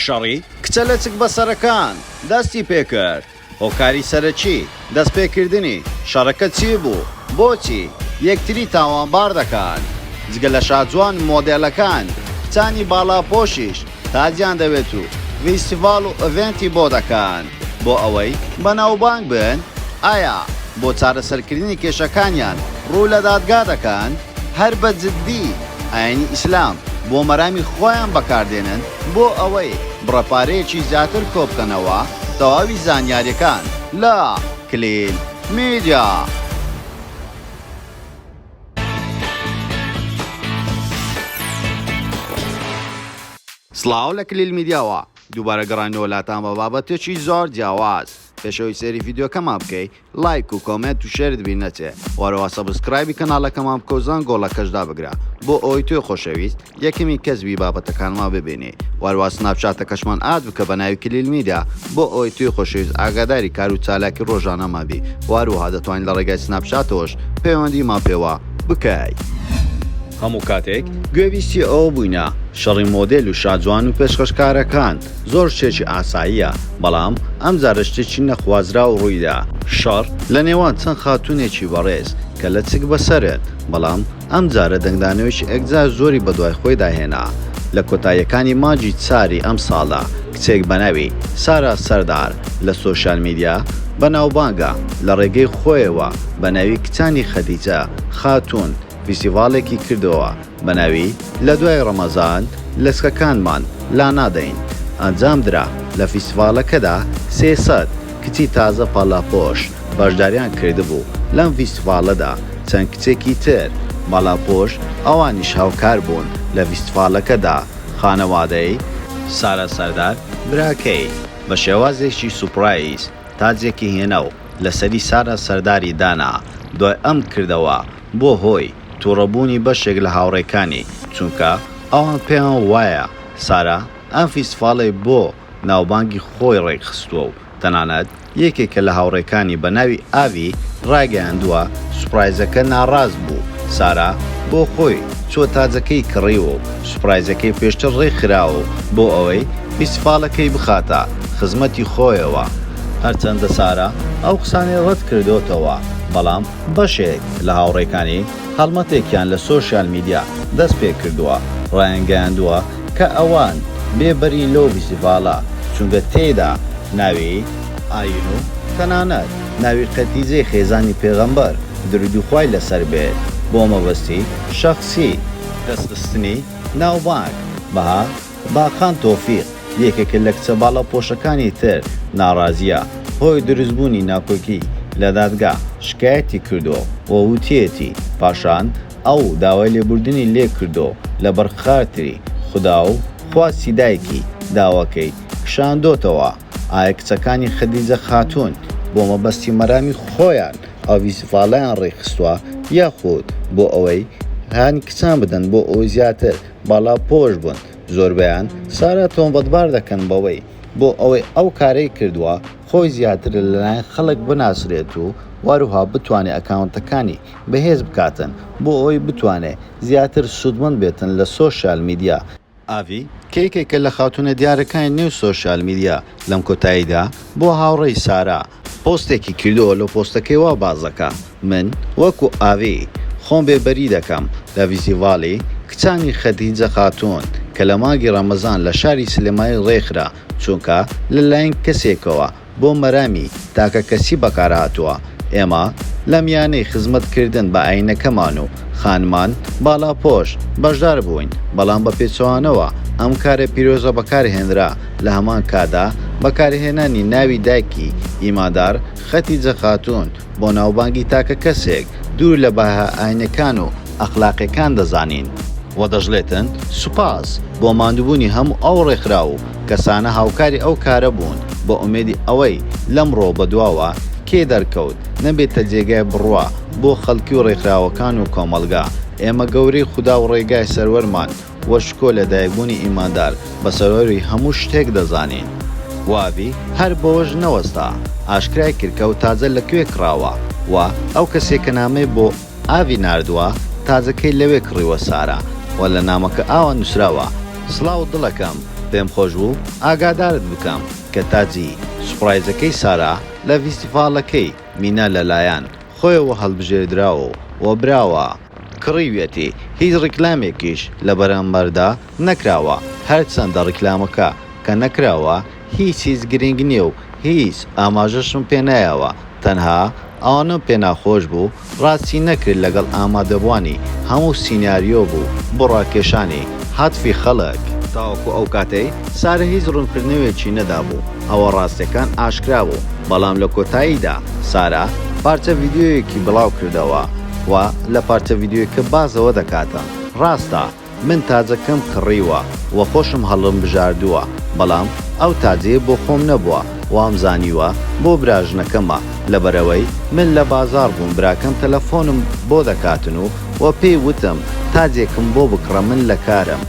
شەڕی کچە لەچک بەسەرەکان دەستی پێکرد، هۆکاری سەرەکی دەستپێکردنی شەڕەکە چی بوو؟ بۆچی یەکتری تاوانبار دەکەن؟ جگە لە شاجوان و مۆدێلەکان، کچانی باڵاپۆشیش تاجیان دەوێت و ڤیستیڤاڵ و ئڤێنتی بۆ دەکەن بۆ ئەوەی بەناوبانگ بن؟ ئایا بۆ چارەسەرکردنی کێشەکانیان ڕوو لە دادگا دەکەن؟ هەر بە جدی ئاینی ئیسلام بۆ مەرامی خۆیان بەکاردێنن بۆ ئەوەی بڕە پارەیەکی زیاتر کۆبکەنەوە تەواوی زانیاریەکان لە، کلیل میدیا. سڵاو لە کلیل میدیاوە دووبارە گەڕاینەوە لاتان بە بابەتێکی زۆر جیاواز پێشەوەی سەیری ڤیدیۆکەمان بکەی لایک و کۆمێنت و شێرت بیر نەچێ وەرەوە سەبسکرایبی کەناڵەکەمان بکەو زەنگ گۆڵەکەش دابگرە بۆ ئەوەی تۆی خۆشەویست یەکەمین کەس بی بابەتەکانمان ببینی وەروا سناپ چاتەکەشمان ئاد بکە بە ناوی کلیل میدیا بۆ ئەوەی تۆی خۆشەویست ئاگاداری کارو چالاکی ڕۆژانەمان بی وەروەها دەتوانی لە ڕێگای سناپ چاتەوەش پەیوەندیمان پێوە بکەی. هەموو کاتێک گوێبیستی ئەوە بووینە شەڕی مۆدێل و شاجوان و پێشکەشکارەکان زۆر شتێکی ئاساییە، بەڵام ئەمجارە شتێکی نەخوازراو ڕوویدا، شەڕ لە نێوان چەند خاتوونێکی بەڕێز کە لەچک بەسەرن، بەڵام ئەمجارە دەنگدانەوەیەکی ئەکجار زۆری بەدوای خۆیدا هێنا، لە کۆتاییەکانی مانگی چاری ئەمساڵدا کچێک بەناوی سارا سەردار لە سۆشیال میدیا بەناوبانگە لە ڕێگەی خۆیەوە بەناوی کچانی خەدیجە خاتوون فیستیڤاڵێکی کردەوە بە ناوی لە دوای ڕەمەزان لەچکەکانمان لانادەین ئەنجامدرا لە فیستیڤاڵەکەدا سێ سەد کچی تازە پاڵاپۆش بەشداریان کردبوو لەم فیستیڤاڵەدا چەند کچێکی تر باڵاپۆش ئەوانیش هاوکار بوون لە فیستیڤاڵەکەدا خانەوادەی سارا سەردار براکەی بە شێوازێکی سوپرایز تاجێکی هێنا و لەسەری سارا سەرداری دانا دوای ئەم کردەوە بوە هۆی توڕە بوونی بەشێک لە هاوڕێکانی چونکە ئەوان پێیان وایە سارا ئەم فیستڤاڵەی بۆ ناوبانگی خۆی ڕێکخستوە و تەنانەت یەکێکە لە هاوڕێکانی بەناوی ئاڤی ڕایگەیاندوە سوپڕایزەکە ناڕاست بوو سارا بۆ خۆی چووە تاجەکەی کڕیوە و سوپرایزەکەی پێشتر ڕێک خراوە و بۆ ئەوەی فیستیفاڵەکەی بخاتە خزمەتی خۆیەوە. هەرچەندە سارا ئەو قسانەی ڕەت کردۆتەوە، بەڵام بەشێک لە هاوڕێکانی هەڵمەتێکیان لە سۆشیال میدیا دەست پێ کردووە، ڕایانگەیاندووە کە ئەوان بێ بەرین لەو فیستیڤاڵە، چونکە تێیدا ناوی ئاین و تەنانەت ناوی قەتیجەی خێزانی پێغەمبەر، دروودی خوای لەسەر بێت، بۆ مەبەستی شەخسی. دەستخستنی ناوبانگ، بەها باقان تۆفیق، یەکێکە لە کچە باڵاپۆشەکانی تر، ناڕازییە، هۆی دروستبوونی ناکۆکی لە دادگا شکایەتی کردووە و وتیەتی، پاشان ئەو داوای لێبوردنی لێ کردووە و لەبەر خاتری خودا و خواستی دایکی، داواکەی کشاندۆتەوە. ئایا کچەکانی خەدیجە خاتوون بۆ مەبەستی و مەرامی خۆیان ئاوی زڤاڵەیان ڕێکخستووە یاخود بۆ ئەوەی هانی کچان بدەن بۆ ئەوەی زیاتر باڵاپۆش بن زۆربەیان سارا تۆمەتبار دەکەن بەوەی بۆ ئەوەی ئەو کارەی کردووە خۆی زیاتر لەلایەن خەڵک بناسرێت و وەروها بتوانێت ئەکاونتەکانی بەهێز بکاتن بۆ ئەوەی بتوانێت زیاتر سوودمەند بێتن لە سۆشیال میدیا. ئاڤی، کە یەکێکە لە خاتوونە دیارەکانی نێو سۆشیال میدیا، لەم کۆتاییدا بۆ هاوڕێی سارا پۆستێکی کردووە، لە پۆستەکەی وا باس دەکا، من وەکو ئاڤی خۆم بێ بەری دەکەم لە ڤیزیڤاڵی کچانی خەدیجە خاتوون کە لە مانگی ڕەمەزان لە شاری سلێمانی ڕێکخرا، چونکە لە لایەن کەسێکەوە بۆ مەرامی تاکەکەسی بەکارهاتووە، ئێمە لە میانەی خزمەتکردن بە ئایینەکەمان و خانمان باڵاپۆش بەشدار بووین، بەڵام بە پێچەوانەوە ئەم کارە پیرۆزە بەکارهێنرا، لە هەمان کاتدا بەکارهێنانی ناوی دایکی ئیماندار خەتیجە خاتوون بۆ ناوبانگی تاکەکەسێک دوور لە بەها ئایینیەکان و ئەخلاقیەکان دەزانین و دەشڵێتن سوپاس بۆ ماندووبوونی هەموو ئەو ڕێکخراو و کەسانە هاوکاری ئەو کارە بوون بە ئومێدی ئەوەی لەمڕۆ بەدواوە کێ دەرکەوت نەبێتە جێگای بڕوا بۆ خەڵکی و ڕێکخراوەکان و کۆمەڵگا ئێمە گەورەی خودا و ڕێگای سەروەرمان و شکۆ لەدایکبوونی ئیماندار بە سەروەری هەموو شتێک دەزانین. وابی هەر بەوەش نەوەستا ئاشکرای کرد کە ئەو تاجە لە کوێ کڕاوە و ئەو کەسیە کە نامەی بۆ. ئاڤی ناردوە تازەکەی لەوێ کڕیوە سارا وە لە نامەکە ئاوا نوسراوە. سڵاو دڵەکەم پێم خۆشبوو ئاگادارت بکەم کە تاجی سوپڕایزەکەی سارا لە ڤیستیڤاڵەکەی مینا لەلایەن خۆیەوە هەڵبژێردراوە و براوە، کڕیویەتی هیچ ڕیکلامێکیش لەبەرامبەردا نەکراوە هەرچەندە ڕیکلامەکە کە نەکراوە هیچ هیچ گرینگ نیە و هیچ ئاماژەشم پێ نایەوە تەنها ئەوەنەم پێ ناخۆش بوو ڕاستی نەکرد لەگەڵ ئامادەبوانی هەموو سیناریۆ بوو بۆ ڕاکێشانی هاتفی خەڵک تاوەکو ئەو کاتەی سارە هیچ ڕونکردنەوێکی نەدابوو ئەوە ڕاستەکان ئاشکرا بوو بەڵام لە کۆتاییدا سارا پارچە ڤیدیۆیەکی بڵاو کردەوە و لە پارچە ڤیدیۆیکە باس ئەوە دەکاتە ڕاستە من تاجەکەم کڕیوە و خۆشم هەڵمبژاردووە، بەڵام ئەو تاجەیە بۆ خۆم نەبووە، وامزانیوە بۆ براژنەکەمە، لەبەرئەوەی من لە بازاڕ بووم براکەم تەلەفۆنم بۆ دەکاتن و و پێی وتم تاجێکم بۆ بکڕە من لە کارم.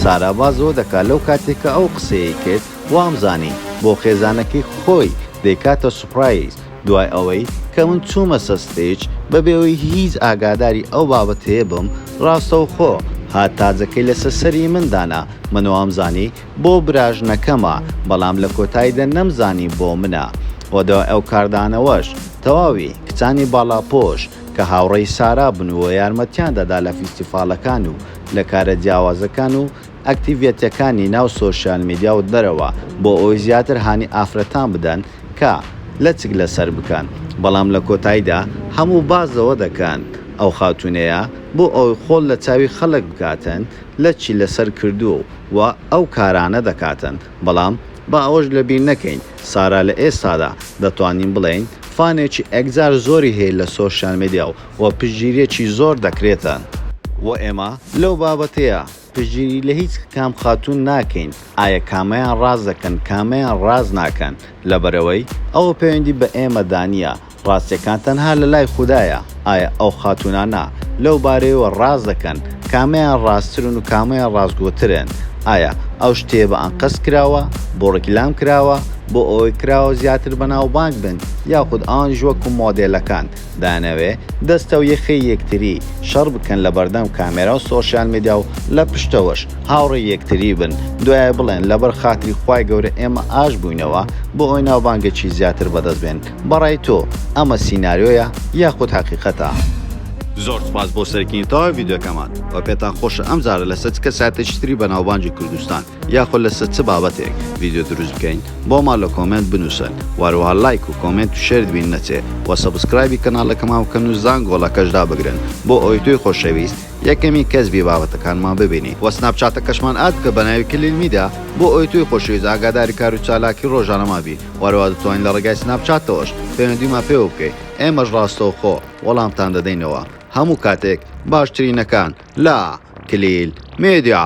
سارا باس لەوە دەکات لەو کاتەی کە ئەو قسەیەی کرد وامزانی بۆ خێزانەکەی خۆی دەیکاتە سوپرایز، دوای ئەوەی کە من چوومەسەر ستەیج بەبێەوەی هیچ ئاگاداری ئەو بابەتەیە بم ڕاستەوخۆ هات تاجەکەی لەسەر سەری من دانا من وامزانی بۆ براژنەکەمە بەڵام لە کۆتایدا نەمزانی بۆ منە وە دوای ئەو کاردانەوەش تەواوی کچانی باڵاپۆش کە هاوڕێی سارا بن و یارمەتیان دەدا لە فیستیفاڵەکان و لە کارە جیاوازەکان و ئەکتیڤیتیەکانی ناو سۆشیال میدیا و دەرەوە بۆ ئەوەی زیاتر هانی ئافرەتان بدەن کە لەچک لەسەر بکەن بەڵام لە کۆتایدا هەموو باس لەوە دەکەن ئەو خاتونەیە بۆ ئەوەی خۆڵ لە چاوی خەڵک بکاتن لەچی لەسەر کردووە و ئەو کارانە دەکاتن بەڵام با ئەوەش لەبیر نەکەین سارا لە ئێستادا دەتوانین بڵێین فانێکی ئێکجار زۆری هەیە لە سۆشیال میدیا و پشتگیریەکی زۆر دەکرێتن بۆ ئێمە لەو بابەتەیە. پشتگیری لە هیچ کام خاتوون ناکەین ئایە کامەیان ڕاست دەکەن کامەیان ڕاست ناکەن لەبەرئەوەی ئەوە پەیوەندی بە ئێمە دا نیە ڕاستیەکان تەنها لە لای خودایە ئایە ئەو خاتوونانە لەو بارەیەوە ڕاست دەکەن کامەیان ڕاستترن و کامەیان ڕاستگۆترن ئایە ئەو شتەیە بە ئەنقەست کراوە بۆ ڕیکلام کراوە بۆ ئەوەی کراوە زیاتر بەناوبانگ بن یاخود ئەوانیش وەکو مۆدێلەکان دانەوێ دەستەو یەخەی یەکتری شەڕ بکەن لەبەردەم کامێراو سۆشیال میدیاو لە پشتەوەش هاوڕێی یەکتری بن دوایە بڵێن لەبەر خاتری خوای گەورە ئێمە ئاش بوینەوە بۆ ئەوەی ناوبانگێکی زیاتر بەدەست بێن بەڕای تۆ ئەمە سیناریۆیە یاخود هەقیقەتە؟ زۆر سوپاس بۆ سەرکینتاوە ڤیدیۆکەمان وە پێتان خۆشە ئەم جارە لەسەر چ کەسایەتێکی تری بەناوبانگی کوردستان یاخۆ لەسە چ بابەتێک ڤیدیۆ دروست بکەین بۆمان لە کۆمێنت بنوسن وەروەها لایک و کۆمێنت و شێرت بیر نەچێ وە سەبسکرایبی کەناڵەکەمان بکەن و زانگۆڵەکەش دابگرن بۆ ئەوەی تۆی خۆشەویست یەکەمین کەس بی بابەتەکانمان ببینی وە سناپچاتەکەشمان ئاد بکە بەناوی کلیل میدیا بۆ ئەوەی تۆی خۆشەویست ئاگاداری کارو چالاکی ڕۆژانەمان بی وەروەها دەتوانی لە ڕێگای سناپچاتەوەش پەیوەندیمان پێوە بکەی ئێمەش ڕاستەوخۆ وەڵامتان دەدەینەوە هەموو کاتێک باشترینەکان لە کلیل میدیا.